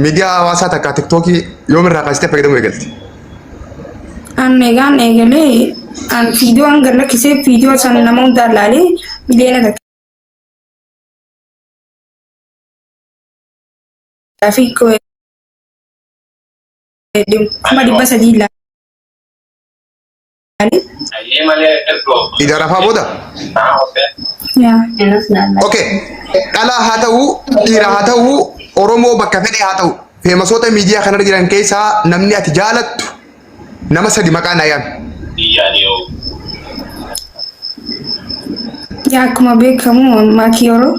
miidiyaa hawaasaa takka tiktookii yoomirraa kaasitee fayyadamuu eegalte? An egaan eegalee an viidiyoo hanga lakkisee viidiyoo sana nama hundaan laalee miliyoona takka. Fi kuma dhibba sadii laa. Iga rafaa booda. Okay. Dhalaa haa ta'u, dhiira haa ta'u, Oromoo bakka fedhe haa ta'u. Feemasoota miidiyaa kanarra jiran keessaa namni ati jaalattu nama sadi maqaa naa yaami. Yaa akkuma beekamu maatii yeroo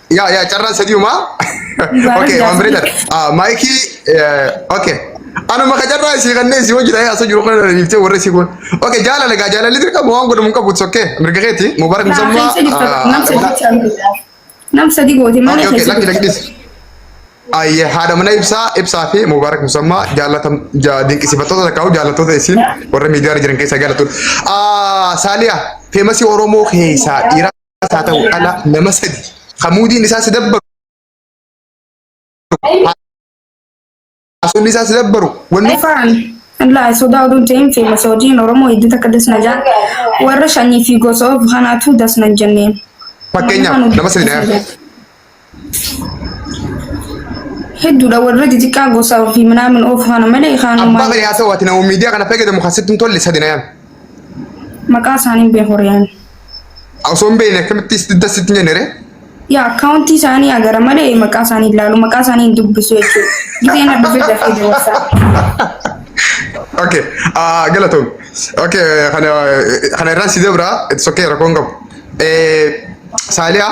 Yaa yaa carraan sadiuma. Okay waan bareedaadha. Ah, Maayikii eh, okay. Anuma ka carraa isii kanneen isii hojii ta'ee asoo jiru kana dhiiftee warra isii kun. Okay jaalala gaa jaalalli dirqama waan godhamu hin qabu it's okay. Mirga keeti Mubarak Naa Musammaa. keessa jirtu ah, nam sadii jechaan biyya. Nam sadii gooti malee Okay okay keessa lakki lakki jirtu. dhis. Ayyee haadha mana ibsaa ibsaa fi Mubarak Musammaa jaalatam ja- dinqisiifattoota takkaa'u jaalattoota isiin warra miidiyaa irra jiran keessaa jaalattoota. Ah, Saaliyaa feemasii Oromoo keessaa dhiiraa. haa ta'u dhala nama sadi kamuudiin isaa si dabbaru haasofni isaa si dabbaru wanni Ifaan illaa sodaa oduu ta'een feemasa hojiin Oromoo hedduu takka dasna jaan warra shanii fi gosa of kanaatu dasna hin jenneen. fakkeenyaaf nama sadi na yaadadha. Hedduudha warra xixiqqaa gosa ofii minaamin oofu kana malee Abbaa kaanuma bari haa ta'u ati nama miidiyaa kana fayyadamu kan sitti hin tolle sadi na yaami. maqaa isaanii beeku horiyaan. Osoo hin beekne akkamitti sitti das sitti hin jenne ree? Yaa akkaawuntii isaanii agara malee maqaa isaanii ilaalu maqaa isaanii hin dubbisu jechuudha. Gideen addabee dafee dabarsaa. Okay, ah, galatoom. Okay, kana kana irraan si dabra, it's okay, rakkoon qabu. Eh, Saaliyaa,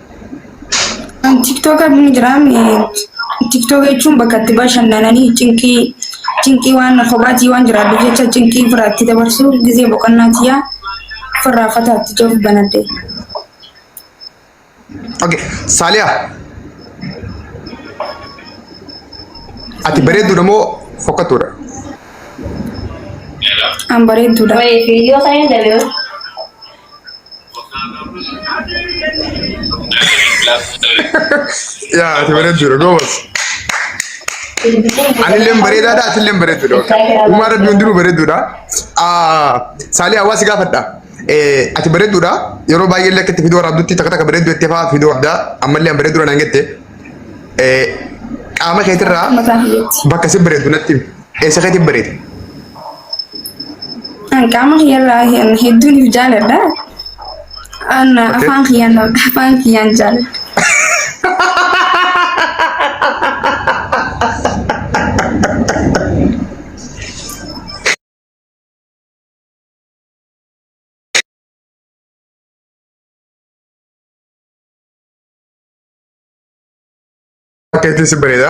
An tiktoka ni jira tiktoka jechuun bakka itti bashannananii cinqii cinqii waan kophaati waan jiraadhu jecha cinqii ofirraa itti dabarsu gizee boqonnaa tiyyaa ofirraa fataa itti jiruuf banadhe. Okay. Saaliya. Ati bareedduudha moo fokkattuudha? An bareedduudha. Wayii fiiyyoo kan hin dabeeru. Yaa ati bareedduudha goobas. Anilleen bareedaadha atilleen bareedduudha. Uumaa rabbi hundinuu bareedduudha. Saalii hawaasi gaafadha. Ati bareedduudha yeroo baay'ee illee akka itti fiduu waraabdutti takka takka bareedduu jettee fa'aa fiduu addaa ammallee an bareedduudha naan jette. Qaama keetirraa bakka si bareeddu natti himi. Eessa keetti bareeda? An qaama kiyyarraa hin hedduun hin jaaladha. An afaan kiyyaan afaan kiyyaan jaaladha. Keetti si bareeda.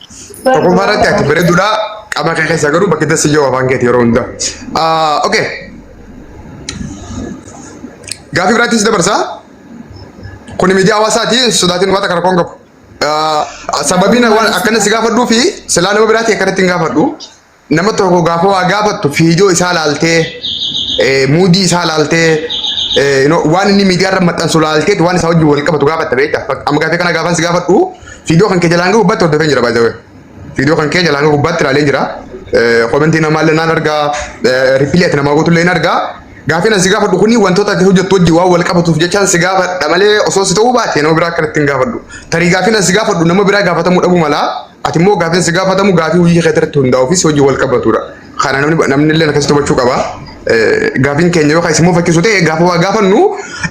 Tokkoffaa irratti ati bareeduudha qaba kee keessa garuu bakki dassi jiru afaan keeti yeroo hunda. Okee. Gaafii biraattis dabarsa. Kuni miidiyaa hawaasaati sodaatiin waan kana koon qabu. Sababiin waan akkana si gaafadhuu fi silaa nama biraati akkanatti hin gaafadhu. nama tokko gaafa waa gaafattu fiidiyoo isaa laaltee eh, muudii isaa laaltee eh, you know, waan inni miidiyaa irra maxxansu laalteetu waan isaa wajjin wal qabatu gaafatta beekta. Fak- Amma gaafii kana gaafan si gaafadhu fiidiyoo kan kee jalaan gahuu baatti hordofee jira baay'ee. Fiidiyoo kan kee jalaan gahuu baatti ilaalee jira. Eh, Komentii namaa illee naan argaa eh, ripiilii ati namaa gootu illee hin argaa. Gaafiin ani si gaafadhu kuni wantoota ati hojjettu wajjin waan wal qabatuuf jechaan si gaafadha malee osoo si ta'uu baate nama biraa akkanatti hin gaafadhu. Tarii gaafiin ani si gaafadhu nama biraa gaafatamuu dhabuu malaa. Ati immoo gaaffiin si gaafatamu gaaffii hojii keetii irratti hundaa'uu fi si hojii wal qabatudha. Kana namni namni illee akkasitti hubachuu qaba. Eh, Gaaffiin keenya yoo kan isin mufachiisu ta'e gaafa waa gaafannu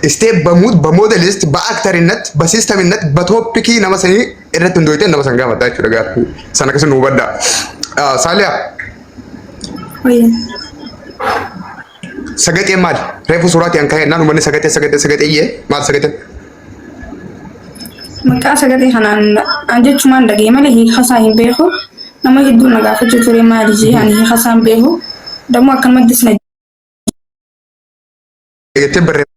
isteep bamuut ba moodelist ba aktarinnat ba siistaminnat ba tooppikii nama sanii irratti hundooyteen nama san gaafadha jechuudha gaaffii sana akkasuma hubadha. Ah, Saaliyaa Wayyan. Sagaxeen maali? Reefu suuraatii an ka'e naan uummanni sagaxee sagaxee sagaxee iyyee maal sagaxeen? Maqaa sagalee kanaan an jechumaan dhagee malee hiikasaa hin beeku. Nama hedduu na gaafachuu ture maali jee ani hiikasaa hin beeku. Dammoo akkanumattis na jettee barreeffama.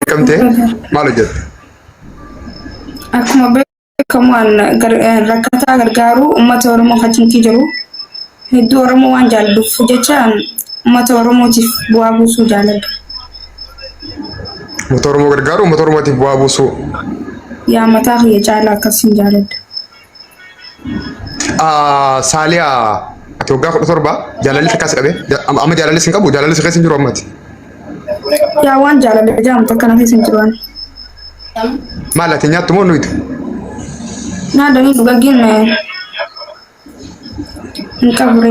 beekamte maal hojjette? Akkuma beekamu an gar- eh, rakkataa gargaaru uummata Oromoo facaasuu jiru. Hedduu Oromoo waan jaalluuf jecha an uummata Oromootiif bu'aa buusuu jaaladha. Uummata Oromoo gargaaru uummata Oromootiif bu'aa buusuu. Yaa mataa kiyya caalaa akkasiin jaaladha. Ah, Saaliyaa ati waggaa kudha torba jaalalli takkaas qabe Ja- amma amma jaalalli sin qabu jaalalli si keessa hin jiru ammati Yaa waan jaalala jedhamu takka na keessa hin jiru ani. maal ati nyaattu moo nuyitu Naa danii dhugaggiin eh, hin qabure.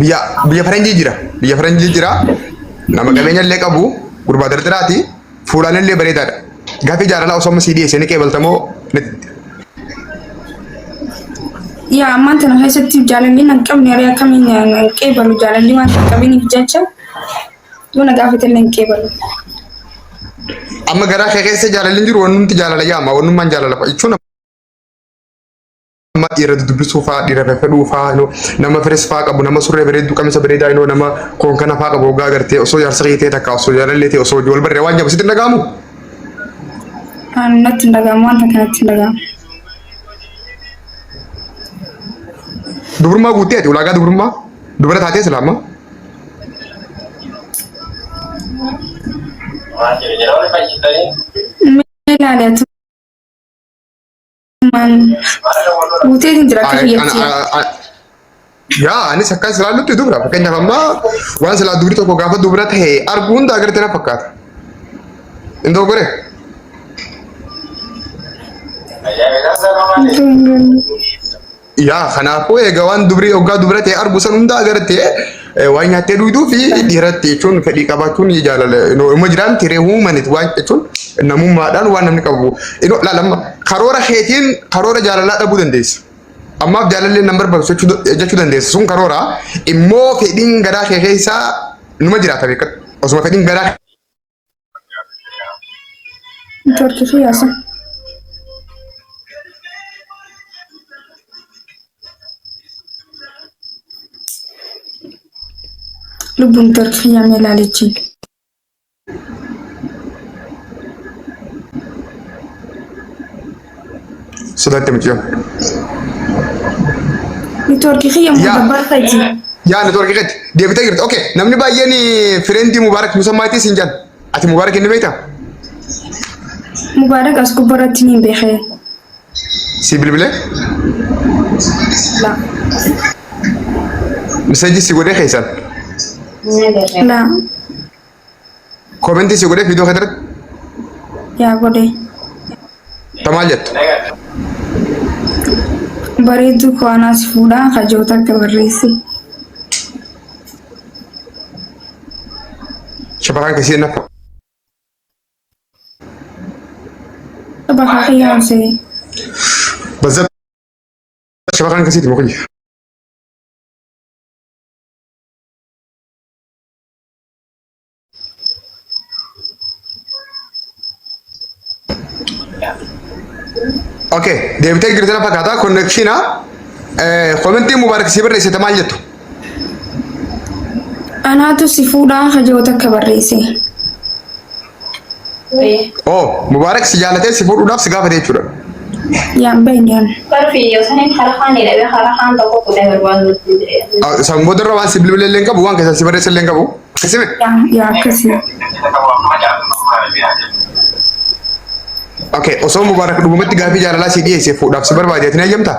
biyya biyya faranjii jira biyya faranjii jira nama qabeenya illee qabu gurbaa dardaraati fuulaan illee bareedaadha gaafi jaalala osoo amma sii dhiyeessee ni qeebaltamoo Yaa ammaan tana keessatti jaalalli nan qabne haree akkamiin nan qeebalu jaalalli waan hin qabiniif jecha yoo na gaafate illee hin qeebalu. amma garaa kee keessa jaalalli hin jiru wanumti jaalala yaama wanummaan jaalala jechuun nama irra dudubbisuu faa dhiira fefedhuu faa iloo nama firis faa qabu nama surree bareedduu qamisa bareedaa iloo nama koon kana faa qabu ogaa gartee osoo jaarsa kee ta'e takka osoo jaalallee ta'e osoo wal barree waan jabu sitti hin dhaga'amu. Ani natti hin dhaga'amu wanta kanatti hin dhaga'amu. Dubrummaa guuttee ati ulaagaa dubrummaa dubara taatee islaama. Maal jedhu jedhamu fayyisanii? Mee ilaali ati Guutee hin jira akka Ay- biyyatti. ana- a- a- Yaa anis akka silaa nutti dubra fakkeenyaaf ammaa waan silaa dubri tokko gaafa dubra ta'e arguu hunda agartee na fakkaata. Indoo goree. Guutee hin jira. Yaa kanaafuu egaa waan dubri oggaa dubra ta'e argu san hunda agarte eh, waan nyaattee duuduu fi dhiiratti jechuun fedhii qabaachuun ni jaalala. Inoo Ilma jiraan tiree huumanit waan jechuun namummaadhaan waan namni qabu. Inoo laalama karoora keetiin karoora jaalalaa dhabuu dandeessa. Ammaaf jaalallee nan barbaachisu jechuu da- jechuu dandeessa. Sun karoora immoo fedhiin garaa kee keessaa numa jiraata beekadhu. Osuma fedhiin garaa George fi Yaasin. Lubbuun George fi Yaamee ilaalichi. Sodaatte mucayyoon. Networkii kiyya immoo Yaa. gabbaarta jira. Yaa networkii keetti deebitee jirti. Okay namni baay'een fireendi Mubaarak Musammaatii siin jedhan. Ati Mubaarak inni beektaa? Mubaarak as gubbaa irratti ni beekee. Si bilbilee? Laa. Miseejii si godhee keessan. Laa. Komentii si godhee viidiyoo keetirratti yaa godhe ta maal jettu? bareedduu koo anaas fuudhaa kajoota akka barreesse Shamarran keessii na bakka kiyyaan se'e bazza shamarran keessiiti mukiyya. Okay, deebitee jirti na fakkaata konnekshiina komentii mubaarak si barreessite maal jettu? Anaatu si fuudhaa hajoo takka barreesse. Oh, Mubaarak si jaalatee si fuudhuudhaaf si gaafate jechuudha. Yaa bayyaan. Bara fiiyyoo saniin hara kaan jedhamee hara kaan tokko kudhan barbaadu nutti jedhee. Ah, San booda irra waan si bilbilee illee hin qabu, waan keessan si barreessa illee hin qabu. Akkasime. Yaa yaa akkasii. Okay, osoo Mubaarak dhugumatti gaafii jaalalaa si dhiyeesse fuudhaaf si barbaade ati ni hayyamtaa?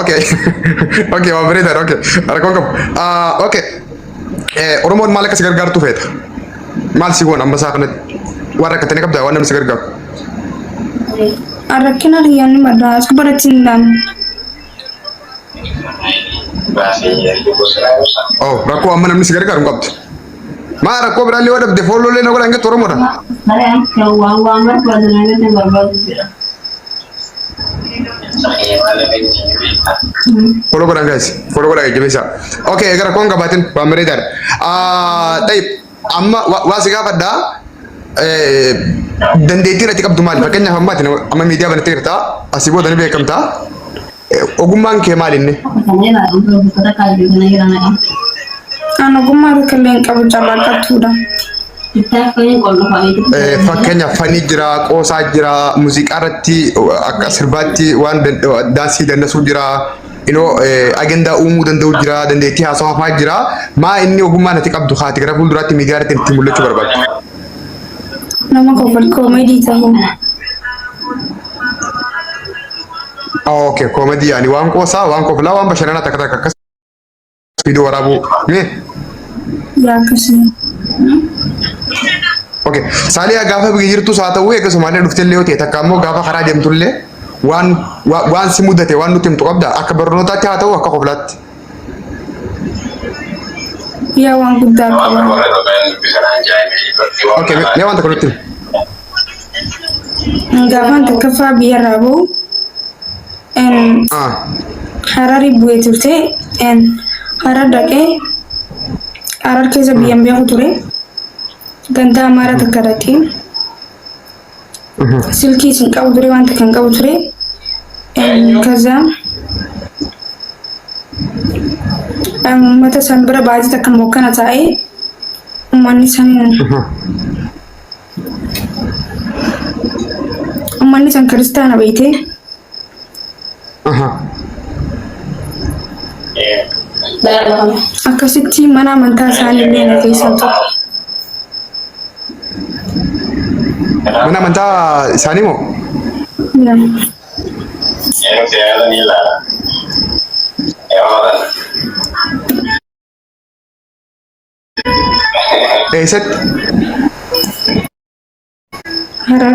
Okay. okay, waan bareedan. Okay. Rakkoon qabu. Ah, okay. Eh, Oromoon maal akka si gargaartu feeta? Maal si goon amma isaa kanatti? Waan rakkatanii qabdaa waan namni si gargaaru. Rakkina riyyaan madaa as gubbaratti hin laanne. Oh, rakkoo amma namni si gargaaru hin qabdu. Maa rakkoo biraallee yoo dhabde foolloollee na godhan gettu Oromoodha. Kare an kan waan waan barbaadu na gadi barbaadu jira. Follow godhan guys. Follow godhan jajjabeessaa. Okay gara koon qabaatin waan bareedaadha. Ah, Tayyib amma wa- waa si gaafadha. Eh, Dandeettiin ati qabdu maali? Fakkeenyaaf ammaati amma miidiyaa banattee jirta. Asii booda ni beekamta. Ogummaan kee maal inni? An ogummaa tokkollee hin qabu calaqqattuudha. Fakkeenya fanii jira, qoosaa jira, muuziqaa irratti akka sirbaatti waan daansii dandasuu jira. Inoo agendaa uumuu danda'u jira, dandeettii haasawaa fa'aa jira. Maa inni ogummaa nati qabdu haati gara fuulduraatti miidiyaa irratti itti mul'achuu barbaadu? Nama kofol koomedii ta'uu. Okay, koomedii yaani waan qoosaa, waan koflaa, waan bashannanaa takka takka akkas viidiyoo waraabuu. Mee? Yaa akkasii. Okay, saaliyaa gaafa biyya jirtus haa ta'u eega Somaaliyaa dhuftellee yoo ta'e takka ammoo gaafa karaa deemtullee waan waan si mudate waan nutti himtu qabda akka barnootaatti haa ta'u akka koflaatti. Yaa waan guddaa qaba. Okay, mee mee waan tokko nutti himi. Gaafaan takkaffaa biyyarraa bahu en, Ah, Harari bu'ee turte en, Harar dhaqee Harar keessa biyyan beeku ture. Gandaa Amaaraa takka dhaqee silkii isin qabu ture wanta kan qabu ture kaza ummata san bira baajii takka mokkana taa'e ummanni san ummanni san kiristaana beeyte Akkasitti mana amantaa isaanii illee na keessaa ture. Mana amantaa isaanii moo? Eessatti? Harar.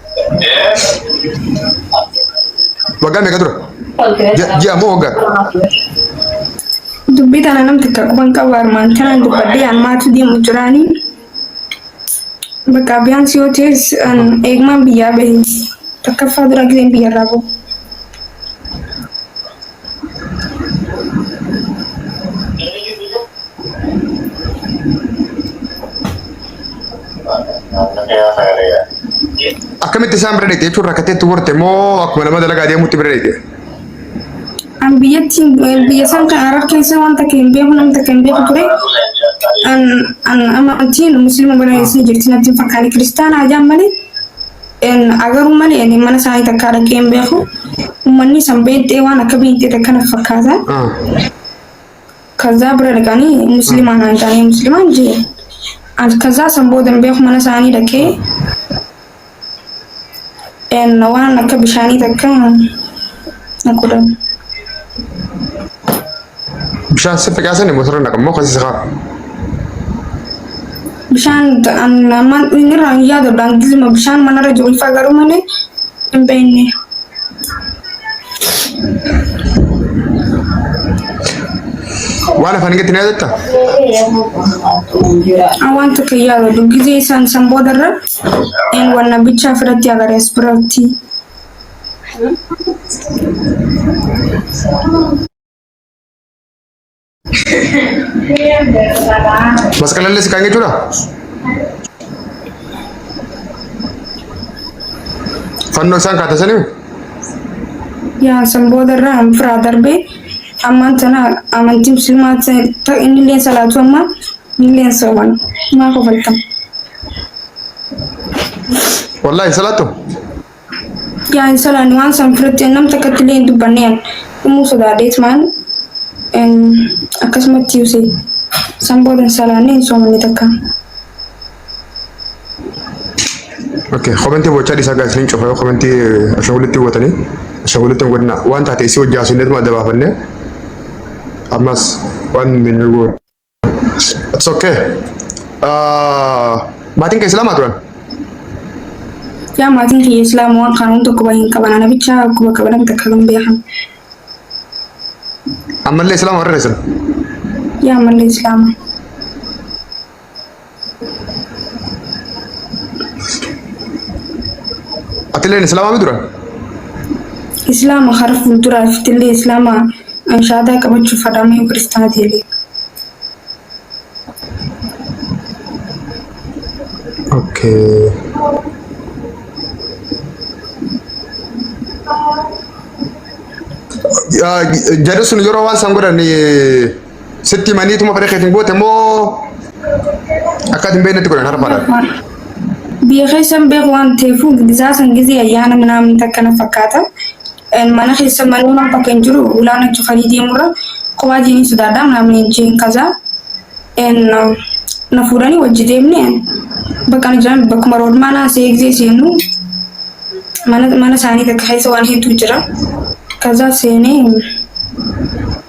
Waggaa meeqa tura? Ji'a- Ji'a moo waggaa? Dubbii tana namni takka quban qabu armaan kanaan dubbadhee an maatii deemu jiraanii. Bakka biyyaansi yoo ta'es an eegmaan biyyaa bahe. Takkaffaa dura gizeen biyyarraa bahu. Akkamitti isaan bira deete jechuun rakkatteetti horte moo akkuma nama dalagaa deemutti bira deete? An biyyatti biyya isaan kan Arab keessa waan takka hin beeku namni takka hin beeku ture. An an amantiin musliima bira eessa jirti natti hin fakkaanne kiristaanaa ajaan malee. Agaruu malee ani mana isaanii takkaa dhaqee hin beeku. Uummanni san beentee waan akka beentee takka na fakkaata. Ah. Kazaa bira dhaqanii musliimaa naan taanee musliimaan jee. Ani kazaa san booda hin beeku mana isaanii dhaqee. En waan akka bishaanii takka na godhan. Bishaan si facaasanii motora naqan moo kasi sikaa. Bishaan ammaan inni irraa hin yaadu daandiisuma bishaan manarra jiru ifaa garuu malee hin beekne. Waan afaan gatti na yaadatta? An waan takka hin yaadu gisee isaan san boodarra een wanna bichaa firatti agaree as biratti. Masqalallee si kan jechuudha. Fannoo isaan kaata sanii yaa san booda irraa an firaa darbee ammaan tana amantii muslimaa ta inni illee salaatu amma inni illee sooman maa kofaltam wallaahi salaattu. Yaa hin salaan waan san firatti an nam takkatti illee hin dubbanne an dhumuu sodaadhee tumaan em, akkasumatti yuuse san booda hin salaanne hin soomanne takka. Okay, komentii bochaa dhiisaa gaa isiniin cufa yoo komentii ashaawulitti hubatanii ashaawulitti hin godhina waan taate isii hojjaa isinneetuma adda baafannee ammas waan hin goone. It's okay. Uh, maatiin kee islaamaa turan? Yaa maatiin kiyya islaama waan kana hunda quba hin qaban ana bicha quba qaban akka takka hin beekan. Ammallee islaama warra dheessan? Yaa ammallee islaama. Atileen islaamaa mi duran? Islaama hara fuulduraa iftillee Islaama anshaadaa qabachuuf fadhaama yoo kiristaana ta'ellee. Okay. Jarri sun yeroo waan san godhan Sitti manii tuma fedha keetiin goote moo akka hin beeknetti godhan harmaadhaan. Biyya keessan beeku waan ta'eef gizaa san gizee ayyaana minaamin takka na fakkaata. Mana keessa manni waan bakka hin jiru ulaan achi kan deemurra kophaa jiin sodaadha minaamin jiin kaza. Na fuudhanii wajji deemne bakka na jiran bakkuma roodmaa naa see gizee seenu mana isaanii takka keessa waan hedduu jira. Kaza seenee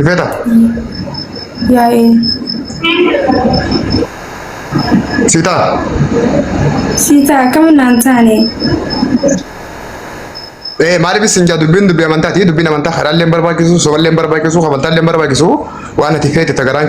Ifeta. Yaa'ee. Sita. Sita akkam naan taane. Eh maaliif isin jaa dubbiin dubbii amantaati dubbiin amantaa karaallee hin barbaachisu somallee hin barbaachisu kabantaallee hin barbaachisu waan ati feete tagaraan